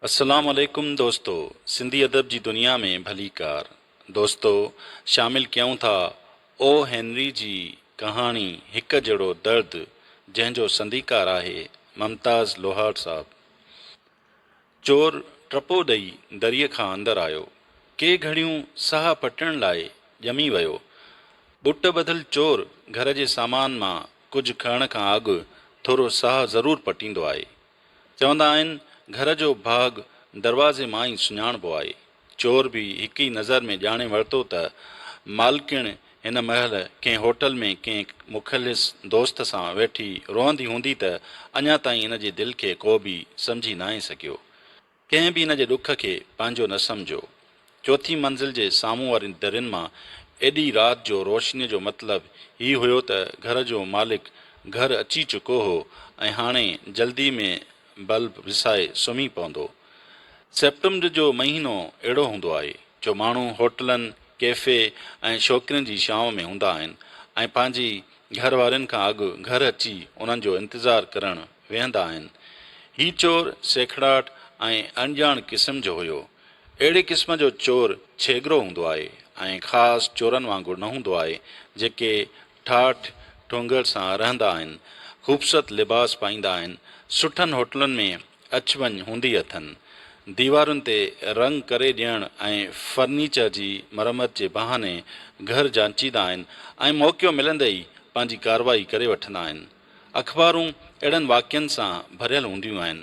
السلام عليڪم دوستو سنڌي ادب جي دنيا ۾ ڀليڪار دوستو شامل ڪيون ٿا او هينري جي ڪهاڻي هڪ جهڙو درد جنهن جو سنديڪار آهي ممتاز لوهار صاحب چور ٽپو ڏئي دريء کان اندر آيو ڪي گهڙيون ساهه پٽڻ لاء ڄمي ويو ٻٽ ٻڌل چور گهر جي سامان مان ڪجهه کڻڻ کان اڳ ٿورو ساهه ضرور پٽيندو آهي چوندا آهن گهر جو ڀاڳ دروازي مان ئي سڃاڻبو آهي. چور به هڪ ئي نظر ۾ ڄاڻي ورتو ته مالڪڻ هن مهل ڪنهن هوٽل ۾ ڪنهن مخلص دوست سان ويٺي روئندي هوندي ته اڃا تائين هن جي دل کي ڪو به سمجهي ناهي سگهيو. ڪنهن به ان جي ڏک کي پنهنجو نه سمجهيو. چوٿين منزل جي سامهون وارين درين مان ايڏي رات جو روشنيء جو مطلب هي هيو ته گهر جو مالڪ گهر اچي چڪو هو ۽ هاڻي جلدي ۾ بلب وسائي سمهي پوندو. سيپٽمبر جو مهينو اهڙو هوندو آهي، جو ماڻهو هوٽلن، ڪيفي ۽ شوقين جي ڇانو ۾ هوندا آهن ۽ پنهنجي گهر وارين کان اڳ گهر اچي انهن جو انتظار ڪرڻ ويهندا آهن. هي چور سيکڙاٽ ۽ اڻڄاڻ قسم جو هيو. اهڙي قسم جو چور ڇيڳرو هوندو آهي ۽ خاص چورن وانگر نه هوندو آهي، جيڪي ٺاٺ ٺونگر سان رهندا آهن، خوبصورت لباس پائيندا آهن، سٺن هوٽلن ۾ اچ وڃ هوندي اٿن، ديوارن تي رنگ ڪري ڏيڻ ۽ فرنيچر جي مرمت جي بهاني گهر جانچيندا آهن ۽ موقعو ملندي ئي پنهنجي ڪارروائي ڪري وٺندا آهن. اخبارون اهڙن واقعن سان ڀريل هونديون آهن.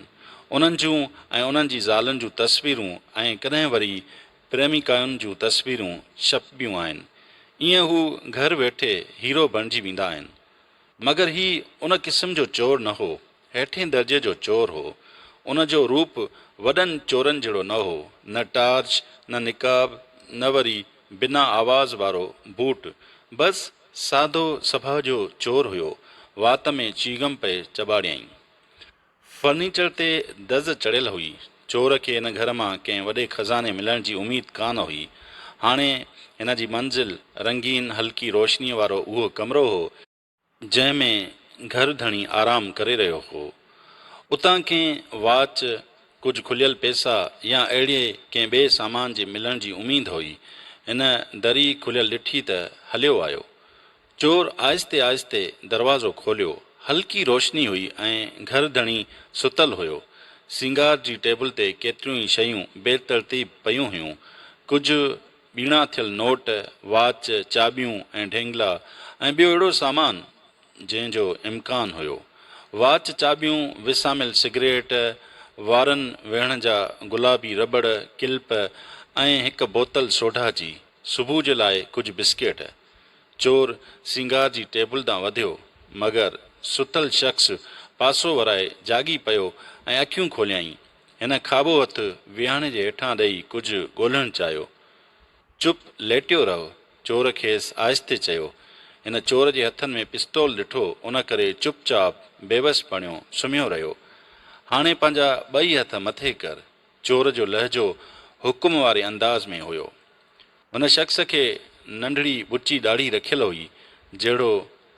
انهن جون ۽ انهن جي زالن جون تصويرون ۽ ڪڏهن وري پريميڪائن جون تصويرون ڇپبيون آهن. ايئن هو گهر ويٺي هيرو بڻجي ويندا آهن. مگر هي ان قسم جو چور نه هو. هيٺين درجي جو چور هو. ان جو روپ وڏن چورن جهڙو نه هو. نه ٽارچ، نه نقاب، نه وري بنا آواز وارو بوٽ. بس! سادو سڀاء جو چور هيو، وات ۾ چيغم پئي چٻاڙيائين. فرنيچر تي دز چڙهيل هئي. چور کي هن گهر مان ڪنهن وڏي خزاني ملڻ جي اميد ڪانه هئي. هاڻي هن جي منزل رنگين هلڪي روشنيء وارو اهو ڪمرو هو، جنهن ۾ گهر ڌڻي آرام ڪري رهيو هو، اتان ڪنهن واچ ڪجهه کليل پيسا يا اهڙي ڪنهن ٻئي سامان جي ملڻ جي اميد هئي. هن دري کليل ڏٺي ته هليو آيو. چور آهستي آهستي دروازو کوليو. هلڪي روشني هئي ۽ گهر ڌڻي ستل هيو. سينگار جي ٽيبل تي ڪيتريون ئي شيون بي ترتيب پيون هيون. ڪجهه ٻيڻا ٿيل نوٽ، واچ، چاٻيون ۽ ڍينگلا ۽ ٻيو اهڙو سامان، جنهن جو امڪان هيو. واچ، چاٻيون، وساميل سگريٽ، وارن ويهڻ جا گلابي رٻڙ، ڪلپ ۽ هڪ بوتل سوڍا جي. صبح جي لاء ڪجهه بسڪيٽ. چور سينگار جي ٽيبل ڏانهن وڌيو، مگر ستل شخص پاسو ورائي جاڳي پيو ۽ اکيون کوليائين. هن کاٻو هٿ ويهڻ جي هيٺان ڏئي ڪجهه ڳولهڻ چاهيو. چپ ليٽيو رهه. چور کيس آهستي چيو. هن چور جي هٿن ۾ پستول ڏٺو، ان ڪري چپ چاپ، بيوس بڻيو سمهيو رهيو. هاڻي پنهنجا ٻئي هٿ مٿي ڪر. چور جو لهجو حڪم واري انداز ۾ هيو. هن شخص کي ننڍڙي ٻچي ڏاڙهي رکيل هئي، جهڙو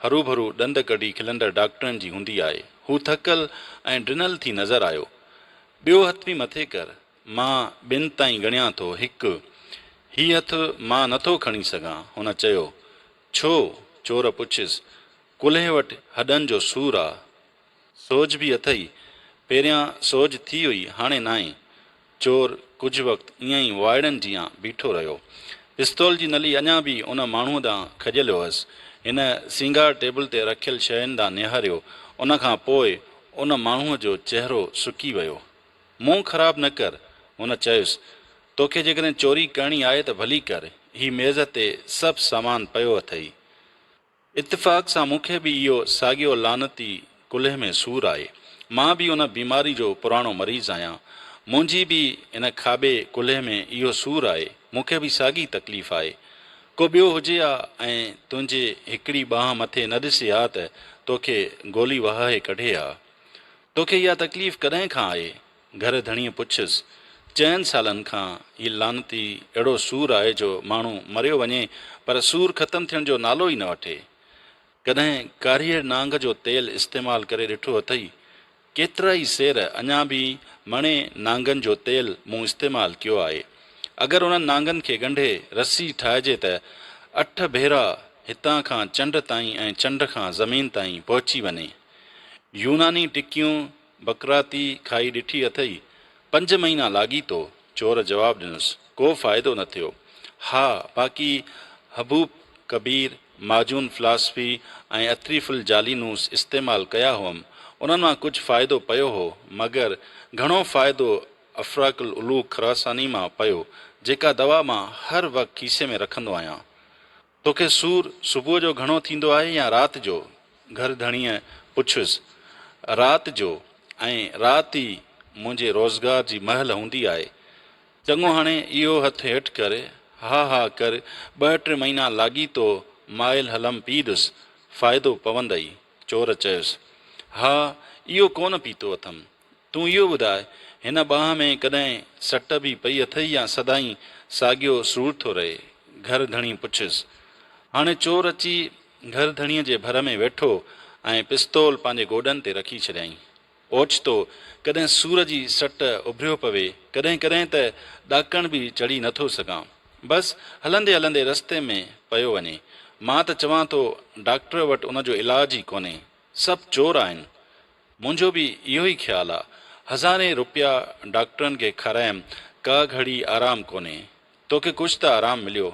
هروڀرو ڏند ڪڍي کلندڙ ڊاڪٽرن جي هوندي آهي. هو ٿڪل ۽ ڊنل ٿي نظر آيو. ٻيو هٿ به مٿي ڪر. مان ٻن تائين ڳڻيان ٿو، هڪ. هي هٿ مان نه ٿو کڻي سگهان. هن چيو. ڇو؟ چور پڇيس. ڪلهي وٽ هڏن جو سور آ. سوڄ به اٿئي؟ پهريان سوڄ ٿي هئي، هاڻي ناهي. چور ڪجهه وقت ائين ئي وائڙن جيان بيٺو رهيو. پستول جي نلي اڃا به ان ماڻهوء ڏانهن کڄيل هئس. هن سينگار ٽيبل تي رکيل شين ڏانهن نهاريو. ان کان پوء ان ماڻهوء جو چهرو سڪي ويو. منهن خراب نه ڪر. هن چيس، توکي جيڪڏهن چوري ڪرڻي آهي ته ڀلي ڪر، هي ميز تي سڀ سامان پيو اٿئي. اتفاق سان مون کي به اهو ساڳيو لعنتي ڪلهي ۾ سور آهي. مان به ان بيماري جو پراڻو مريض آهيان. منهنجي به هن کاٻي ڪلهي ۾ اهو سور آهي. مون کي به ساڳي تڪليف آهي. ڪو ٻيو هجي ها ۽ تنهنجي هڪڙي ٻانهن مٿي نه ڏسي ها ته توکي گولي وهائي ڪڍي ها. توکي اها تڪليف ڪڏهن کان آهي؟ گهر ڌڻيء پڇيس. چئن سالن کان هي لعنتي اهڙو سور آهي جو ماڻهو مريو وڃي پر سور ختم ٿيڻ جو نالو ئي نه وٺي. ڪڏهن ڪاريهڙ نانگ جو تيل استعمال ڪري ڏٺو اٿئي؟ ڪيترائي سير اڃا به مڻي نانگن جو تيل مون استعمال ڪيو آهي. اگر انهن نانگن کي ڳنڍي رسي ٺاهجي ته اٺ ڀيرا هتان کان چنڊ تائين ۽ چنڊ کان زمين تائين پهچي وڃي. يوناني ٽڪيون بقراطي کائي ڏٺي اٿئي؟ پنج مهينا لاڳيتو، چور جواب ڏنس. ڪو فائدو نه ٿيو. ها، باقي حبوب ڪبير، ماجون فلاسفي ۽ اٿريف الجالينوس استعمال ڪيا هئم. انهن مان ڪجهه فائدو پيو هو، مگر گهڻو فائدو افراڪ العلوق خراساني مان پيو، جيڪا دوا مان هر وقت کيسي ۾ رکندو آهيان. توکي سور صبح جو گهڻو ٿيندو آهي يا رات جو؟ گهر ڌڻيء پڇيس. رات جو، ۽ رات ئي منهنجي روزگار جي مهل هوندي آهي. چڱو هاڻي اهو هٿ هيٺ ڪر. ها ها ڪر، ٻه ٽي مهينا لاڳيتو مائل هلم پي ڏس، فائدو پوندئي. چور چيس. ها، اهو ڪونه پيتو اٿم. تون اهو ٻڌاء، هن ٻانهن ۾ ڪڏهن سٽ به پئي اٿئي يا سدائين ساڳيو سور ٿو رهي؟ گهر ڌڻي پڇيس. هاڻي چور اچي گهر ڌڻيء جي ڀر ۾ ويٺو ۽ پستول پنهنجي گوڏن تي رکي ڇڏيائين. اوچتو ڪڏهن سور جي سٽ اڀريو پوي، ڪڏهن ڪڏهن ته ڏاڪڻ به چڙهي نه ٿو سگهان. بس هلندي هلندي رستي ۾ پيو وڃي. مان ته چوان ٿو ڊاڪٽر وٽ ان جو علاج ئي ڪونهي. سڀ چور آهن. منهنجو به اهو ئي خيال آ. هزارين روپيا ڊاڪٽرن کي کارايم ڪا گهڙي آرام ڪونهي. توکي ڪجهه ته آرام مليو.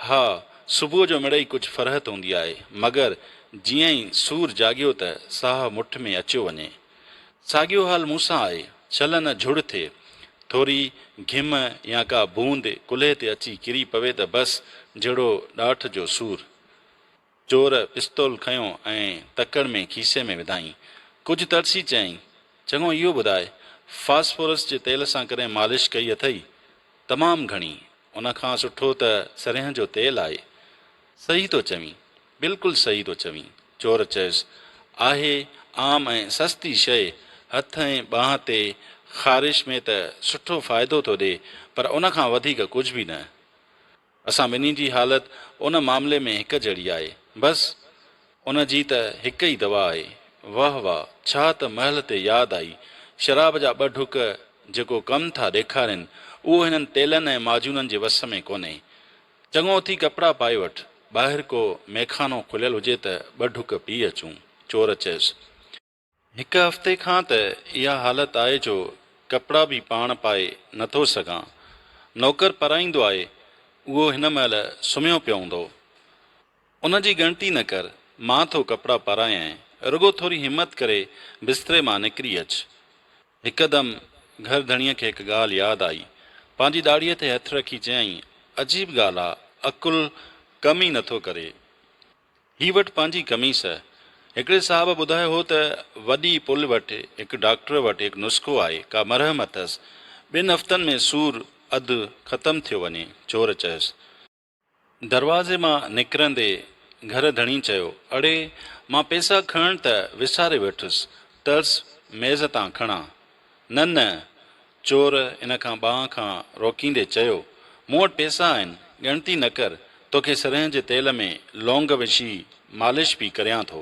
ها صبح جو مڙئي ڪجهه فرحت هوندي آهي مگر جيئن ئي سور جاڳيو ته ساهه مٺ ۾ اچيو وڃي. ساڳيو حال مون سان آهي. ڇل نه جهڙ ٿئي. ٿوري گهم يا ڪا بوند ڪلهي تي اچي ڪري پوي ته بس جهڙو ڏاٺ جو سور. چور پستول کنيو ۽ تڪڙ ۾ کيسي ۾ وڌائين. ڪجهه ترسي چيائين، چڱو اهو ٻڌاء، فاسفورس جي تيل سان ڪڏهن مالش ڪئي اٿئي؟ تمام گهڻي. ان کان سٺو ته سرهين جو تيل آهي. صحيح ٿو چوين. بلڪل صحيح ٿو چوين. چور چيس، آهي عام ۽ سستي شيء. هٿ ۽ ٻانهن تي خارش ۾ ته سٺو فائدو ٿو ڏي، پر ان کان وڌيڪ ڪجهه به نه. اسان ٻنهي جي حالت ان معاملي ۾ هڪ جهڙي آهي. بس، ان جي ته هڪ ئي دوا آهي. واه واه، ڇا ته مهل تي ياد آئي. شراب جا ٻه ڍڪ جيڪو ڪم ٿا ڏيکارين، اهو هنن تيلن ۽ معجونن جي وس ۾ ڪونهي. چڱو اٿي ڪپڙا پائي وٺ، ٻاهر ڪو ميخانو کليل هجي ته ٻه ڍڪ پي اچون. چور چيس. هڪ هفتي کان ته اها حالت آهي جو ڪپڙا به پاڻ پائي نه ٿو سگهان. نوڪر پرائيندو آهي، اهو هن مهل سمهيو پيو هوندو. ان جي ڳڻتي نه ڪر، مان ٿو ڪپڙا پرايانء، رڳو ٿوري همت ڪري بستري مان نڪري اچ. هڪدم گهر ڌڻيء کي هڪ ڳالهه ياد آئي. پنهنجي ڏاڙهيء تي هٿ رکي چيائين، عجيب ڳالهه آ، عقل ڪم ئي نه ٿو ڪري. هي وٽ پنهنجي قميص. هڪڙي صاحب ٻڌايو هو ته وڏي پل وٽ هڪ ڊاڪٽر وٽ هڪ نسخو آهي، ڪا مرهم اٿس، ٻن هفتن ۾ سور اڌ ختم ٿيو وڃي. چور چيس. دروازي مان نڪرندي گهر ڌڻي چيو، اڙي، مان پئسا کڻڻ ته وساري ويٺس، ٽلس ميز تان کڻان. نه نه، چور ان کان ٻانهن کان روڪيندي چيو، مون وٽ پيسا آهن، ڳڻتي نه ڪر، توکي سرهين جي تيل ۾ لونگ وڇي مالش پي ڪريان ٿو.